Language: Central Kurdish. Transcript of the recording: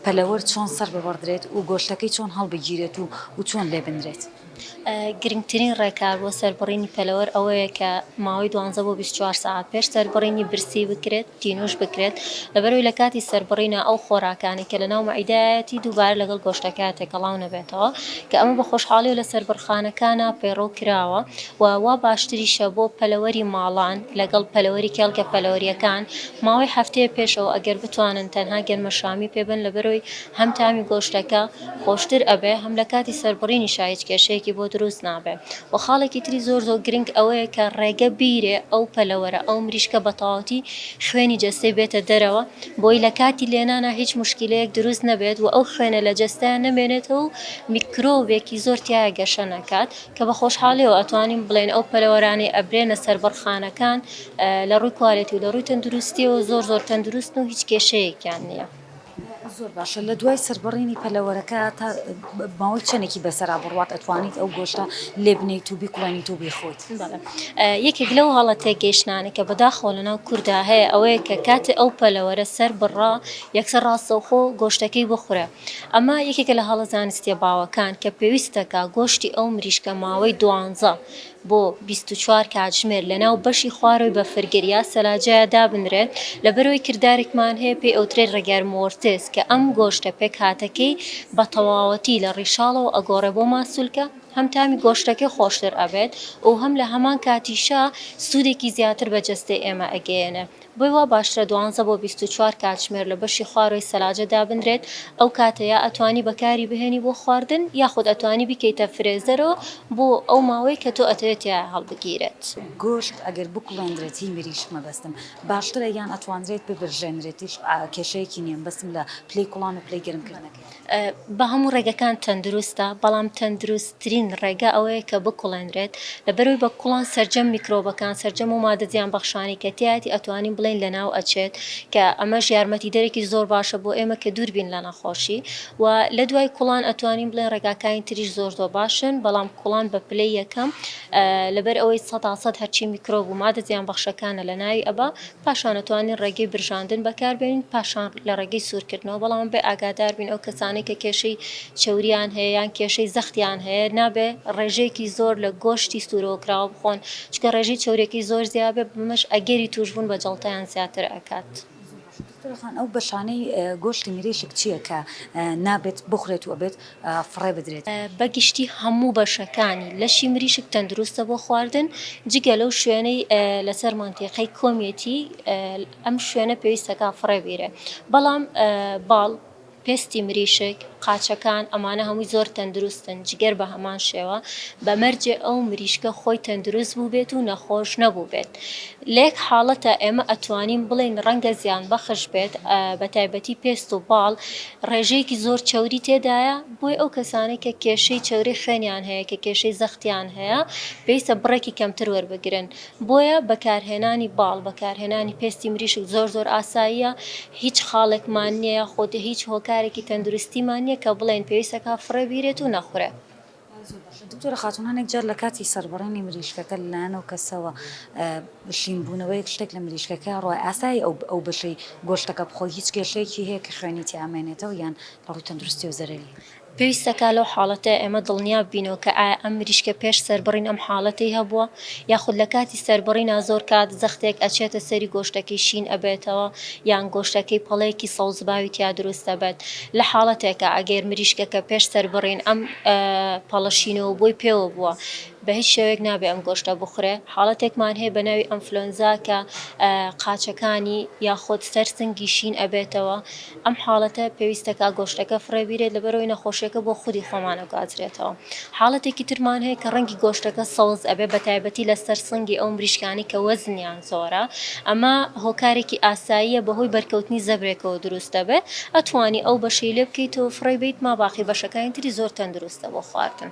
پەلەوەر چۆن سەر ببڕدرێت و گۆشتەکەی چۆن هەڵبگیرێت و و چۆن لێ بنرێت؟ گرنگترین ڕێکار بۆ سەربڕینی پەلەوەر ئەوەیە کە ماوەی دوانزە بۆ بیست و چوار سەعات پێش سەربڕینی برسی بکرێت، تینووش بکرێت، لەبەرئەوەی لە کاتی سەربڕینە ئەو خۆراکانەی کە لەناو مەعیدەیایەتی دووبارە لەگەڵ گۆشتەکەیا تێکەڵاو نەبێتەوە، کە ئەمە بە خۆشحاڵییەوە لە سەربڕخانەکانا پەیڕەو کراوە و وا باشتریشە بۆ پەلەوەری ماڵان لەگەڵ پەلەوەری کێڵگە پەلەوەرییەکان ماوەی هەفتەیە پێشەوە ئەگەر بتوانن تەنها گەرمەشامی پێ بەن لەبەرەوەی هەم تامی گۆشتەکە خۆشتر ئەبێ هەم لە کاتی سەربڕینیشا هیچ کێشەیەکی بۆ دروست نابێ وە خاڵێکی تری زۆر زۆر گرنگ ئەوەیە کە ڕێگە بیرێ ئەو پەلەوەرە ئەو مریشکە بە تەواوەتی خوێنی جەستەی بێتە دەرەوە بۆی لە کاتی لێنانا هیچ موشکیلەیەک دروست نەبێت وە ئەو خوێنە لە جەستەیا نەمێنێتەوە و میکرۆبێکی زۆر تیایا گەشە نەکات کە بە خۆشحاڵیەوە ئەتوانین بڵێین ئەو پەلەوەرانەی ئەبرێنە سەربڕخانەکان لە ڕووی کوالێتی و لە ڕووی تەندروستیەوە زۆر زۆر تەندروستن و هیچ کێشەیەکیان نییە. زۆر باشە لە دوای سەربڕینی پەلەوەرەکە تا ماوەی چەندێکی بەسەرا بڕوات ئەتوانیت ئەو گۆشتە لێ بنیت و بیکڵێنیت و بیخۆیت یەکێک لەو هەڵە تێگەیشتانە کە بەداخەوە لەناو کوردا هەیە ئەوەیە کە کاتێ ئەو پەلەوەرە سەر بڕا یەکسەر ڕاستەوخۆ گۆشتەکەی بخورە ئەمە یەکێکە لە هەڵە زانستیە باوەکان کە پێویستەکە گۆشتی ئەو مریشکە ماوەی دوانزە بۆ بیست و چوار کاتژمێر لەناو بەشی خوارەوەی بەفرگر یا سەلاجەیا دابنرێت، لەبەرئەوەی کردارێکمان هەیە پێی ئەوترێت ڕێگار مۆرتس کە ئەم گۆشتە پێکهاتەکەی بە تەواوەتی لە ڕیشاڵەوە ئەگۆڕێت بۆ ماسولکە، هەم تامی گۆشتەکەی خۆشتر ئەبێت و هەم لە هەمان کاتیشا سوودێکی زیاتر بە جەستەی ئێمە ئەگەیەنێت. بۆی وا باشترە دوانزە بۆ بیست و چوار کاتژمێر لە بەشی خوارۆی سەلاجە دابنرێت، ئەو کاتە یا ئەتوانی بەکاری بهێنی بۆ خواردن یاخود ئەتوانی بیکەیتە فرێزەرەوە بۆ ئەو ماوەی کە تۆ ئەتەوێت تیایا هەڵبگیرێت. گۆشت ئەگەر بکوڵێندرێت هی مریشک مەبەستم باشترە یان ئەتوانرێت ببرژێنرێتیش کێشەیەکی نیە مبەستم لە پلەی کوڵان و پلەی گەرمکردنەکەی. بەهەموو ڕێگەکان تەندروستە، بەڵام تەندروستترین ڕێگە ئەوەیە کە بکوڵێنرێت، لەبەرئەوەی بە کوڵان سەرجەم میکرۆبەکان، سەرجەم ئەو ماددە زیانبەخشانەی کە تیایەتی ئەتوانین بڵێین لەناو ئەچێت، کە ئەمەش یارمەتیدەرێکی زۆر باشە بۆ ئێمە کە دووربین لە نەخۆشی، وە لەدوای کوڵان ئەتوانین بڵێین ڕێگاکانی تریش زۆر زۆر باشن، بەڵام کوڵان بە پلەی یەکەم لەبەرئەوەی سەتا سەد هەرچی میکرۆب و ماددە زیانبەخشەکانە لەناوی ئەبا، پاشان ئەتوانین ڕێگەی برژاندن بەکاربێنین پاشان لە ڕێگەی سوورکردنەوە بەڵام ئەبێ ئاگاداربین ئەو کەسانەی کە کێشەی چەوریان هەیە یان کێشەی زەختیان هەیە نابێ ڕێژەیەکی زۆر لە گۆشتی سوورەوەکراوە بخۆن چونکە ڕێژەی چەوریەکەی زۆر زیابێ بەمەش ئەگەری تووشبوون بە جەڵتەیان زیاتر ئەکات. دکتۆرە خان ئەو بەشانەی گۆشتی مریشک چیە کە نابێت بخورێت و ئەبێت فڕێ بدرێت. بە گشتی هەموو بەشەکانی لەشی مریشک تەندروستە بۆ خواردن جگە لەو شوێنەی لەسەر مەنتیقەی کۆمیەتی ئەم شوێنە پێویستە کان فڕێ بیرێ بەڵام باڵ پێستی مریشک قاچەکان ئەمانە هەمووی زۆر تەندروستن جگەر بە هەمان شێوە بە مەرجێ ئەو مریشکە خۆی تەندروست بوو بێت و نەخۆش نەبوو بێت لەیەک حاڵەتە ئێمە ئەتوانین بڵێین ڕەنگە زیانبەخش بێت بەتایبەتی پێست و باڵ ڕێژەیەکی زۆر چەوری تێدایە بۆی ئەو کەسانەی کە کێشەی چەوری خوێنیان هەیە کە کێشەی زەختیان هەیە پێویستە بڕێکی کەمتر وەربگرن بۆیە بەکارهێنانی باڵ بەکارهێنانی پێستی مریشک زۆر زۆر ئاساییە هیچ خاڵێکمان نیە یاخود هیچ هۆکارێکی تەندروستیمان نیە کە بڵێن پێویستەکا فڕێ بیرێت و نەخورێ. دکتۆرە خاتوون هەنێک جار لە کاتی سەربڕینی مریشکەکە لەلایەن ئەو کەسەوە شینبوونەوەیەک شتێک لە مریشکەکە ڕۆ ئاسایی ئەو ئەو بەشەی گۆشتەکە بخۆی هیچ کێشەیەکی هەیە کە خوێنی تیا ئەمێنێتەوە یان لە ڕووی تەندروستیەوە زەرەری هەیە؟ پێویستە کە لەو حاڵەتە ئێمە دڵنیا ببینەوە کە ئایا ئەم مریشکە پێش سەربڕین ئەم حاڵەتەی هەبووە یاخود لە کاتی سەربڕینا زۆر کات زەختێک ئەچێتە سەری گۆشتەکەی شین ئەبێتەوە یان گۆشتەکەی پەڵەیەکی سەوزباوی تیا دروست ئەبێت لە حاڵەتێکا ئەگەر مریشکەکە پێش سەربڕین ئەم پەڵە شینەوە بۆی پێوە بووە بە هیچ شێوەیەک نابێ ئەم گۆشتە بخورێ حاڵەتێکمان هەیە بە ناوی ئەنفلۆنزا کە قاچەکانی یاخود سەر سنگی شین ئەبێتەوە ئەم حاڵەتە پێویستە کە گۆشتەکە فڕێ بیرێت لەبەرئەوەی نەخۆشیەکە بۆ خودی خۆمان ئەگوازرێتەوە. حاڵەتێکی ترمان هەیە کە ڕەنگی گۆشتەکە سەوز ئەبێت بەتایبەتی لەسەر سنگی ئەو مریشکانەی کە وەزنیان زۆرە ئەمە هۆکارێکی ئاساییە بەهۆی بەرکەوتنی زەبرێکەوە دروست دەبێت ئەتوانی ئەو بەشەی لێ بکەیت و فڕێ بەیت ماباقی بەشەکانی تری زۆر تەندروستە بۆ خواردن.